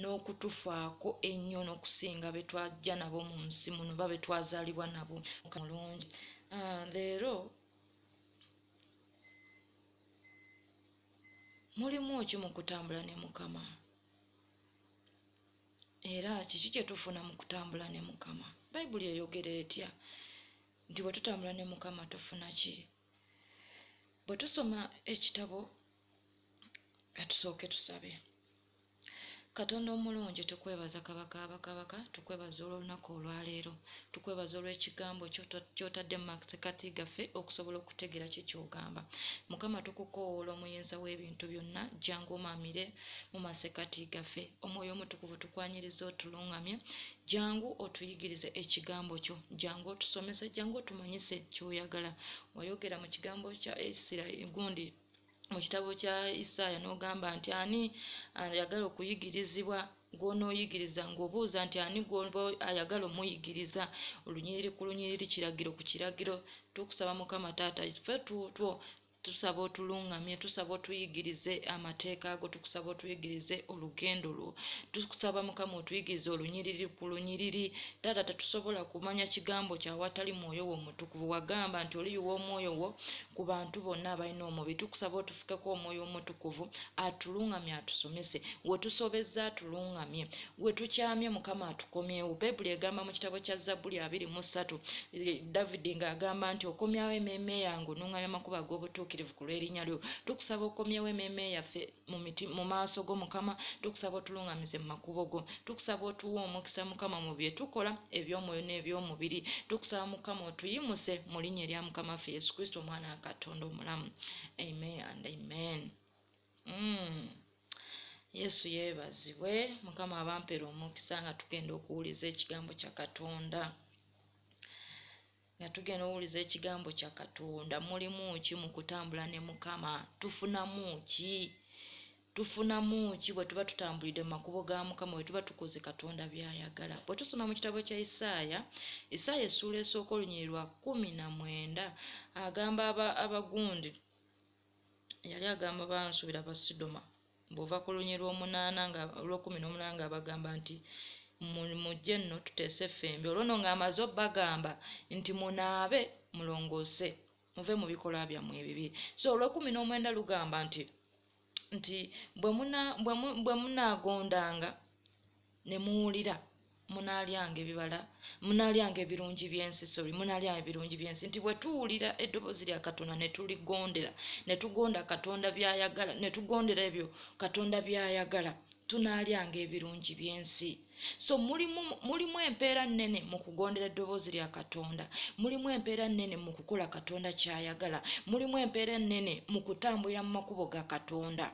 n'okutufaako ennyo n'okusinga be twajja nabo mu nsi muno oba be twazaalibwa nabo mulungi ah, leero mulimu ki mu kutambula ne mukama era kiki kye tufuna mu kutambula ne mukama bayibuli eyogera etya nti bwe tutambula ne mukama tufuna ki bwe tusoma ekitabo katusooke tusabe Katonda omulungi tukwebaza kabaka abakabaka tukwebaza olw'olunaku olwaleero tukwebaza olw'ekigambo kyotadde mu masekati gaffe okusobola okutegeera kye kyogamba mukama tukukowoola omuyinza w'ebintu byonna jangu omamire mu masekati gaffe omwoyo omutukuvu tukwanyiriza otulungamye jangu otuyigirize ekigambo kyo jangu otusomese jangu otumanyise kyoyagala wayogera mu kigambo kya isirairi gundi mu kitabo kya isaaya n'ogamba nti ani ayagala okuyigirizibwa gw'onooyigiriza ng'obuuza nti ani gwoba ayagala omuyigiriza olunyiriri ku lunyiriri kiragiro ku kiragiro tukusaba mukama taata fe tutwo tusaba otuluŋŋamye tusaba otuyigirize amateeka ago tukusaba otuyigirize olugendo lwo tukusaba mukama otuyigirize olunyiriri ku lunyiriri taata tetusobola kumanya kigambo kyawatali mwoyo wo mutukuvu wagamba nti oliyiwa omwoyo wo ku bantu bonna abalina omubi tukusaba otufukeko omwoyo omutukuvu atulungamye atusomese wetusobezza atulungamye wetukyamye mukama atukomyewo bayibuli egamba mu kitabo kya zabbuli abiri mu ssatu eh, davidi ng'agamba nti okomyawo emeeme yange onungamya amakubo ag'obutuukirivu ku lw'erinnya lyo tukusaba okomyewo emeeme yaffe mu maaso go mukama tukusaba otulungamize mu makubo go tukusaba otuwa omukisa mukama mu bye tukola eby'omwoyo n'eby'omubiri tukusaba mukama otuyimuse mu linnya erya mukama ffe yesu kristo omwana wa katonda omulamu amen and amen mm. yesu yeebazibwe mukama abampera omukisa nga tugenda okuwuliza ekigambo kya katonda nga tugenda owuliza ekigambo kya katonda mulimu ki mu kutambula ne mukama tufunamu ki tufunamu ki bwe tuba tutambulidde mu makubo ga mukama bwe tuba tukoze katonda byayagala bwe tusoma mu kitabo kya isaaya isaaya essuula esooka olunyiri lwa kumi na mwenda agamba abagundi aba yali agamba bansubira basidoma bwova ku lunyi lwomunaana nga olwokumi nomunaana nga bagamba nti mujje nno tuteese ffembi olwono nga amaze obagamba nti munaabe mulongoose muve mu bikolwa byammwe ebibi so olwokumi n'omwenda lugamba nti nti bwe munaagondanga ne muwulira munaalyanga ebibala munaalyanga ebirungi by'ensi sorry munaalyanga ebirungi by'ensi nti bwe tuwulira eddoboozi lya katonda ne tuligondera ne tugonda katonda by'ayagala ne tugondera ebyo katonda by'ayagala tunaalyanga ebirungi by'ensi so mulimu mulimu empeera nnene mu kugondera eddoboozi lya katonda mulimu empeera nnene mu kukola katonda ky'ayagala mulimu empeera ennene mu kutambulira mu makubo ga katonda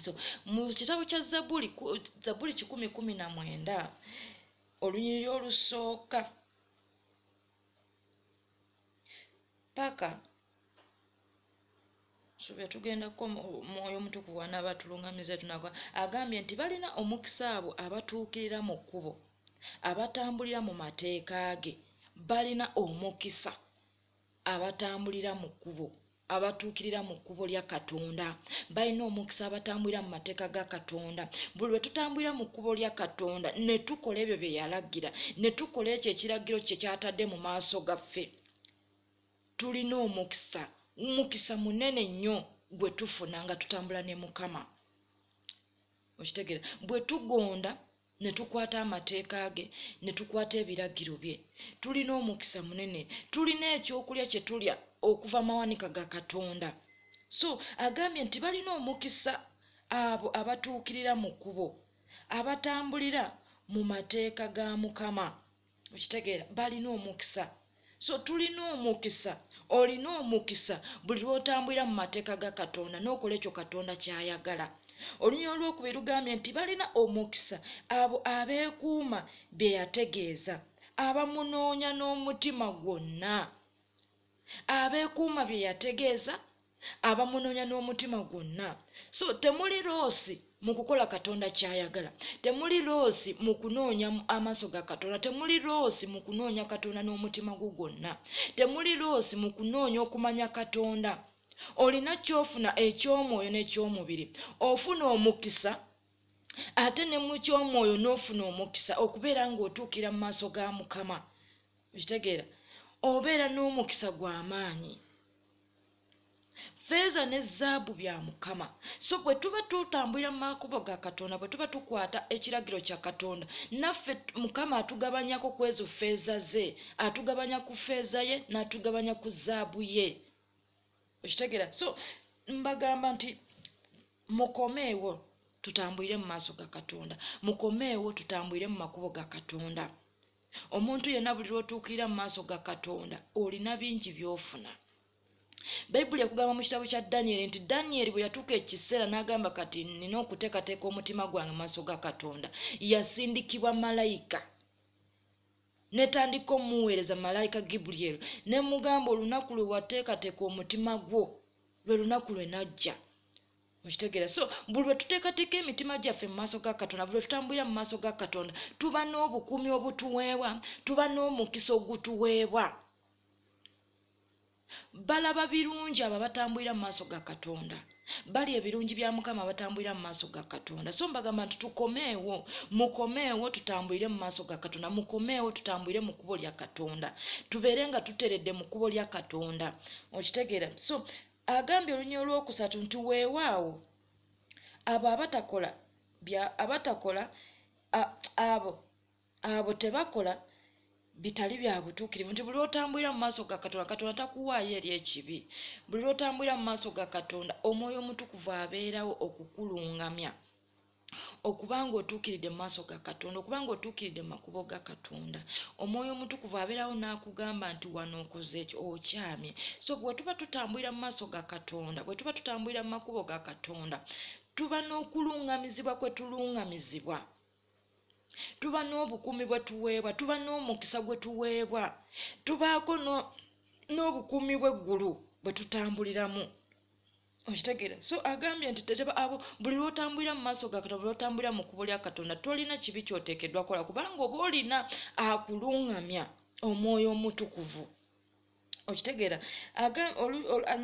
so mu kitabo kya zabuli zabuli kikumi kumi na mwenda olunyiriri olusooka paka suubira tugendako mwoyo omutukuvu wanaaba tulungamiza tunagwa agambye nti balina omukisa abo abatuukirira mu kkubo abatambulira mu mateeka ge balina omukisa abatambulira mu kkubo abatuukirira mu kkubo lya katonda balina omukisa abatambulira mu mateeka ga katonda buli lwe tutambulira mu kkubo lya katonda ne tukola ebyo bye yalagira ne tukola ekyo ekiragiro kye kyatadde mu maaso gaffe tulina omukisa omukisa munene nnyo gwe tufuna nga tutambula ne mukama okitegera bwe tugonda ne tukwata amateeka ge ne tukwata ebiragiro bye tulina omukisa munene tulina ekyokulya kye tulya okuva mawanika ga katonda so agambye nti balina omukisa abo abatuukirira mu kkubo abatambulira mu mateeka ga mukama okitegeera balina omukisa so tulina omukisa olina omukisa buli lwotambulira mu mateeka ga katonda n'okola ekyo katonda kyayagala olunya olwokubiri lugambye nti balina omukisa abo abeekuuma bye yategeeza abamunoonya n'omutima gwonna abeekuuma bye yategeeza abamunoonya n'omutima gwonna so temuli loosi mu kukola katonda kyayagala temuli loosi mu kunoonya amaaso ga katonda temuli loosi mu kunoonya katonda n'omutima gwo gwonna temuli loosi mu kunoonya okumanya katonda olina kyofuna eky'omwoyo n'eky'omubiri ofuna omukisa ate ne mu ky'omwoyo n'ofuna omukisa okubeera ng'otuukira mu maaso ga mukama okitegeera obeera n'omukisa gw'amaanyi feeza ne zaabu bya mukama so bwe tuba tutambulira mu makubo ga katonda bwe tuba tukwata ekiragiro kya katonda naffe mukama atugabanyako ku ezo feeza ze atugabanya ku feeza ye n'atugabanya ku zaabu ye okitegeera so mbagamba nti mukomeewo tutambulire mu maaso ga katonda mukomeewo tutambulire mu makubo ga katonda omuntu yenna buli lwotuukirira mu maaso ga katonda olina bingi byofuna bayibuli ekugamba mu kitabo kya danyeri nti danyeri bwe yatuuka ekiseera n'agamba kati nina okuteekateeka omutima gwange maaso ga katonda yasindikibwa malayika netandika omuweereza malayika gibulyeri ne mugamba olunaku lwe wateekateeka omutima gwo lwe lunaku lwe najja okitegeera so buli lwe tuteekateeka emitima gyaffe mu maaso ga katonda buli lwe tutambulira mu maaso ga katonda tuba n'obukuumi obutuweebwa tuba n'omukisa ogutuweebwa balaba birungi abo abatambulira mu maaso ga katonda bali ebirungi bya mukama abatambulira mu maaso ga katonda so mbagamba nti tukomeewo mukomeewo tutambulire mu maaso ga katonda mukomeewo tutambulire mu kkubo lya katonda tubeere nga tuteredde mu kkubo lya katonda okitegeera so Agambye olunya olwokusatu nti weewaawo abo abatakola abatakola abo abo tebakola bitali bya butuukirivu nti buli lwotambulira mu maaso ga katonda katonda takuwaayo eri ekibi buli lwotambulira mu maaso ga katonda omwoyo omutukuvu abeerawo okukulungamya okuba ng'otuukiridde mu maaso ga katonda okuba ng'otuukiridde mu makubo ga katonda omwoyo omutukuvu abeerawo n'akugamba nti wano okoze okyamye so bwe tuba tutambulira mu maaso ga katonda bwe tuba tutambulira mu makubo ga katonda tuba n'okuluŋŋamizibwa kwe tuluŋŋamizibwa tuba n'obukuumi bwe tuweebwa tuba n'omukisa gwe tuweebwa tubaako n'obukuumi bw'eggulu bwe tutambuliramu okitegera so agambye nti teteba abo buli lwotambulira mu maaso gakata buli lwotambulira mu kubo lya katonda tolina kibi kyoteekeddwa kola kubanga oba olina akuluŋŋamya omwoyo omutukuvu okitegeera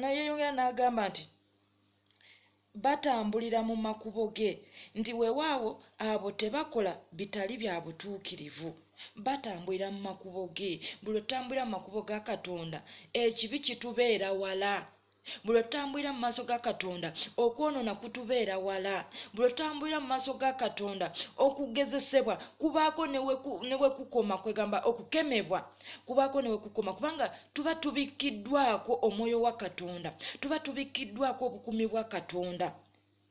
nayeyongera n'agamba nti batambulira mu makubo ge nti wewaawo abo tebakola bitali bya butuukirivu batambulira mu makubo ge buli otambulira mu makubo ga katonda ekibi kitubeera wala buli lwe tutambulira mu maaso ga katonda okwonoona kutubeera wala buli lwe tutambulira mu maaso ga katonda okugezesebwa kubaako ne we kukoma kwegamba okukemebwa kubaako ne we kukoma kubanga tuba tubikkiddwako omwoyo wa katonda tuba tubikkiddwako obukumi bwa katonda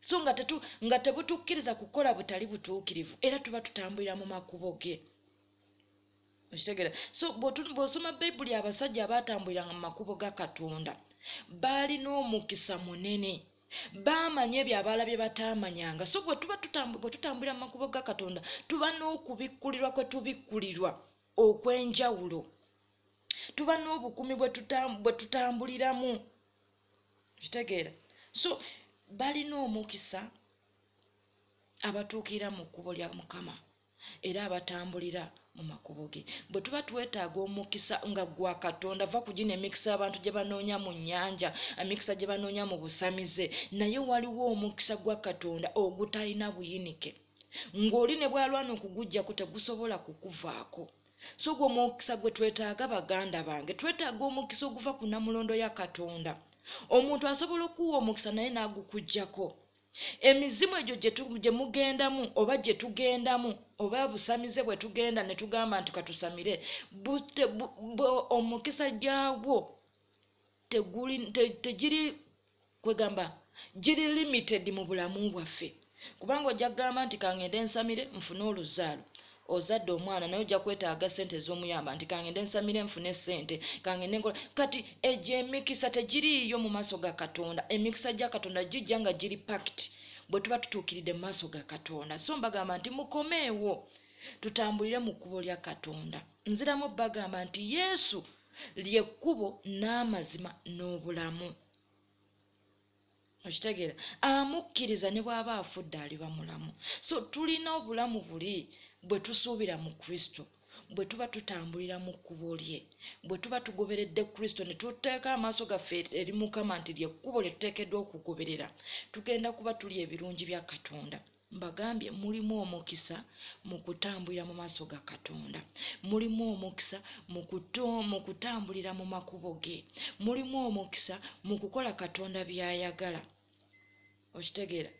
so nga tetu nga tebutukkiriza kukola butali butuukirivu era tuba tutambulira mu makubo ge okitegera so bw'osoma bayibuli abasajja abaatambuliranga mu makubo ga katonda baalina omukisa munene baamanya ebyo abaala bye bataamanyanga so bwe tuba bwe tutambulira mu makubo ga katonda tuba n'okubikkulirwa kwe tubikkulirwa okw'enjawulo tuba n'obukumi bwe tutambuliramu kitegeera so balina omukisa abatuukira mu kkubo lya mukama era abatambulira mu makubo ge bwe tuba twetaaga omukisa nga gwa katonda va ku gino emikisa abantu gye banoonya mu nnyanja emikisa gye banoonya mu busamize naye waliwo omukisa gwa katonda ogutalina buyinike ng'oli ne bwalwana okugujjako tegusobola kukuvaako so ogwo omukisa gwe twetaaga baganda bange twetaaga omukisa oguva ku namulondo ya katonda omuntu asobola okuwa omukisa naye n'agukujjako emizimu egyo gye mugendamu oba gye tugendamu oba busamize bwe tugenda ne tugamba nti katusamire omukisa gyagwo tegiri kwegamba giri limited mu bulamu bwaffe kubanga ojja kugamba nti kangende nsamire nfune oluzaalo ozadde omwana naye ojja kwetaaga sente ez'omuyamba nti kangende nsamire nfune sente kangende nkola kati egyo emikisa tegiriiyo mu maaso ga katonda emikisa gya katonda gijja nga giri pakiti bwe tuba tutuukiridde mu maaso ga katonda so mbagamba nti mukomeewo tutambulire mu kkubo lya katonda nziramu bagamba nti yesu lyekkubo n'amazima n'obulamu okitegeera amukkiriza ne bw'aba afudde aliba mulamu so tulina obulamu buli bwe tusuubira mu kristo bwe tuba tutambulira mu kkubo lye bwe tuba tugoberedde kristo ne tuteeka amaaso gaffe eri mukama nti lyekkubo lye tuteekeddwa okugoberera tugenda kuba tuli ebirungi bya katonda mbagambye mulimu omukisa mu kutambulira mu maaso ga katonda mulimu omukisa mu kutambulira mu makubo ge mulimu omukisa mu kukola katonda byayagala okitegeera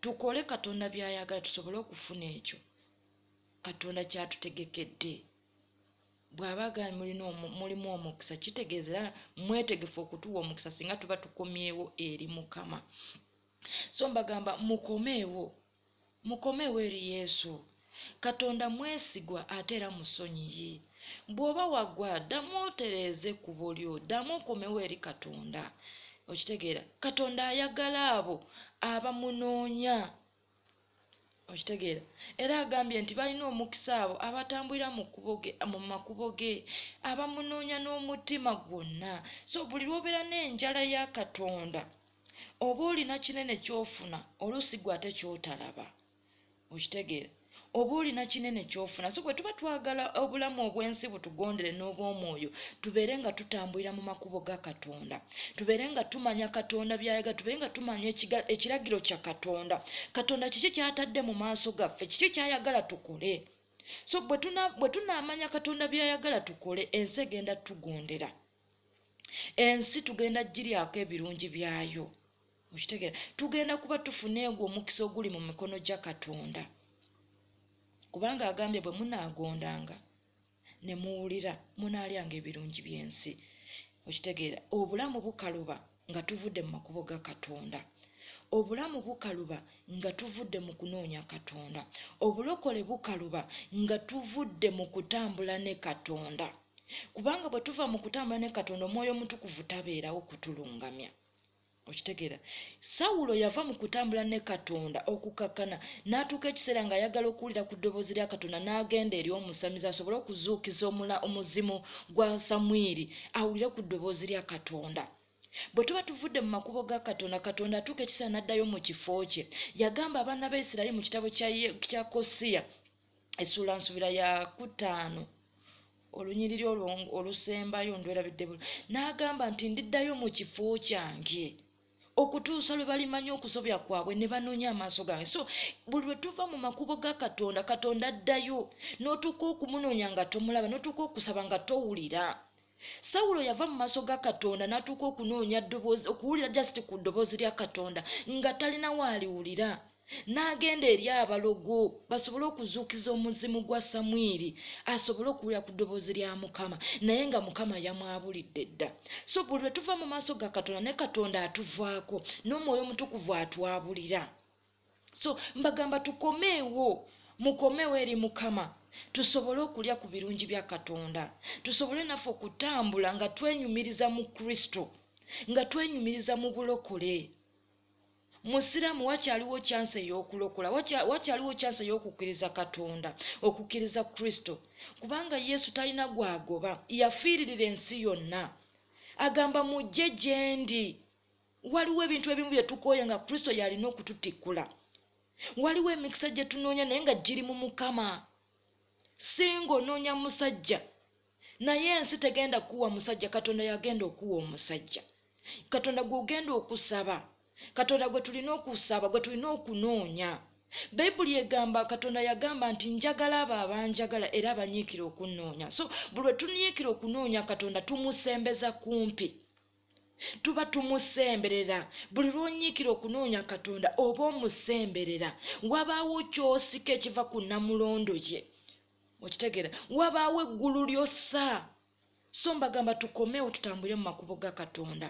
tukole katonda byayagala tusobole okufuna ekyo katonda kyatutegekedde bw'aba agambi mulina mulimu omukisa kitegeeza era mwetegefu okutuwa omukisa singa tuba tukomyewo eri mukama so mbagamba mukomeewo mukomeewo eri yesu katonda mwesigwa ate era musonyiyi bw'oba wagwa ddamu otereeze ekkubo lyo ddamu okomewo eri katonda okitegeera katonda ayagala abo abamunoonya okitegeera era agambye nti balina omukisa abo abatambulira mu makubo ge abamunoonya n'omutima gwonna so buli lwobeera n'enjala ya katonda oba olina kinene kyofuna oluusi gwe ate kyotalaba okitegeera oba olina kinene kyofuna so bwe tuba twagala obulamu obw'ensi butugondere n'obw'omwoyo tubeere nga tutambulira mu makubo ga katonda tubeere nga tumanya katonda byayaga tubeere nga tumanya ekiragiro kya katonda katonda kiki kyatadde mu maaso gaffe kiki kyayagala tukole so bwe tunaamanya katonda byayagala tukole ensi egenda tugondera ensi tugenda giryako ebirungi byayo okitegeera tugenda kuba tufuna egwo omukisa oguli mu mikono gya katonda kubanga agambye bwe munaagondanga ne muwulira munaalyanga ebirungi by'ensi okitegeera obulamu bukaluba nga tuvudde mu makubo ga katonda obulamu bukaluba nga tuvudde mu kunoonya katonda obulokole bukaluba nga tuvudde mu kutambula ne katonda kubanga bwe tuva mu kutambula ne katonda omwoyo omutukuvu tabeerawo kutulungamya okitegeera sawulo yava mu kutambula ne katonda okukakkana n'atuuka ekiseera ng'ayagala okuwulira ku ddoboozi lya katonda n'agenda eri omusamizi asobole okuzuukiza omula omuzimu gwa samwiri awulire ku ddoboozi lya katonda bwe tuba tuvudde mu makubo ga katonda katonda atuuka ekiseera n'addayo mu kifo kye yagamba abaana ba isirayiri mu kitabo kya kosiya essuula nsubira ya kutaano olunyiriri olwo olusembayo ndwerabidde bula n'agamba nti ndiddayo mu kifo kyange okutuusa lwe balimanya okusobya kwabwe ne banoonya amaaso gange so buli lwe tuva mu makubo ga katonda katonda addayo n'otuuka okumunoonya nga tomulaba n'otuuka okusaba nga towulira sawulo yava mu maaso ga katonda n'atuuka okunoonya ddoboozi okuwulira jasiti ku ddoboozi lya katonda nga talina waaliwulira n'agenda eri abalogo basobole okuzuukiza omuzimu gwa samwiri asobole okuwulira ku ddoboozi lya mukama naye nga mukama yamwabulidde dda so buli lwe tuva mu maaso ga katonda ne katonda atuvaako n'omwoyo omutukuvu atwabulira so mbagamba tukomeewo mukomewo eri mukama tusobole okulya ku birungi bya katonda tusobole naffe okutambula nga twenyumiriza mu kristo nga twenyumiriza mu bulokole musiraamu wakyaliwo kyansi ey'okulokola wakyaliwo kyansi ey'okukkiriza katonda okukkiriza kristo kubanga yesu talina gwagoba yafiiririra ensi yonna agamba mujje gyendi waliwo ebintu ebimu bye tukooya nga kristo yalina okututikkula waliwo emikisa gye tunoonya naye nga giri mu mukama singa onoonya musajja naye ensi tegenda kukuwa musajja katonda yagenda okuwa omusajja katonda gwogenda okusaba katonda gwe tulina okusaba gwe tulina okunoonya bayibuli egamba katonda yagamba nti njagala abo abanjagala era abanyiikira okunnoonya so buli lwe tunyiikira okunoonya katonda tumusembeza kumpi tuba tumusemberera buli lwonyiikira okunoonya katonda oba omusemberera wabaawo kyosika ekiva ku namulondo ye okitegera wabaawo eggulu lyossa so mbagamba tukomewo tutambulire mu makubo ga katonda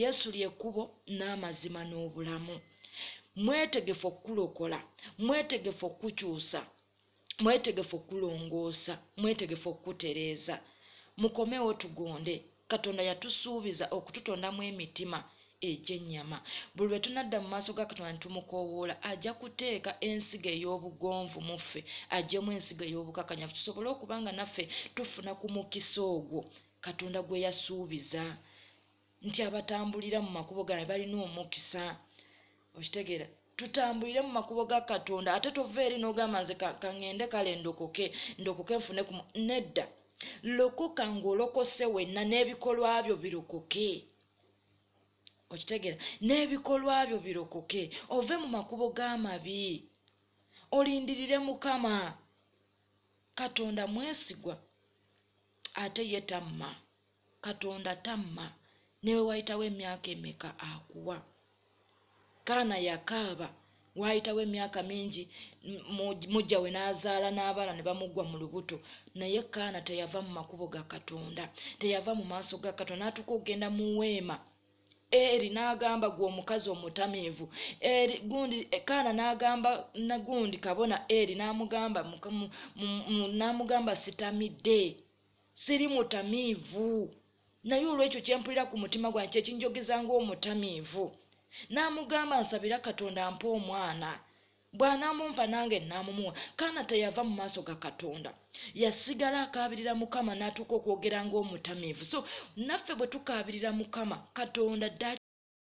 yesu lyekkubo n'amazima n'obulamu mwetegefu okukulokola mwetegefu okukukyusa mwetegefu okulongoosa mwetegefu okukutereeza mukomewo tugonde katonda yatusuubiza okututondamu emitima egy'ennyama buli lwe tunadda mu maaso ga katonda netumukoowoola ajja kuteeka ensigo ey'obugonvu mu ffe ajjemu ensigo ey'obukakanyafu tusobole okuba nga naffe tufuna ku mukisa ogwo katonda gwe yasuubiza nti abatambulira mu makubo gaabwe balina omukisa okitegeera tutambulire mu makubo ga katonda ate tova eri n'ogamba nze kaŋŋende kale ndokoke ndokoke nfune ku nedda lokoka ng'olokose wenna n'ebikolwa byo birokoke okitegeera n'ebikolwa byo birokoke ove mu makubo g'amabi olindirire mukama katonda mwesigwa ate yetamma katonda tamma newewayitawo emyaka emeka akuwa kaana yakaaba waayitawo emyaka mingi mujja we n'azaala n'abaana ne bamuggwa mu lubuto naye kaana teyava mu makubo ga katonda teyava mu maaso ga katonda n'atuuka okugenda mu weema eri n'agamba gwe omukazi omutamiivu eri gundi eh, kaana n'agamba nagundi kabona eri n'amugamba n'amugamba sitamidde siri mutamiivu naye olwekyo kyempulira ku mutima gwange kyekinjogeza ngaomutamiivu n'amugamba nsabira katonda mpa omwana bw'anamumpa nange namumuwa kaana teyava mu maaso ga katonda yasigala akaabirira mukama n'atuuka okwogera ngaomutamiivu so naffe bwe tukaabirira mukama katonda dda akyatulaba era atuuka okwogera ngaomutamiivu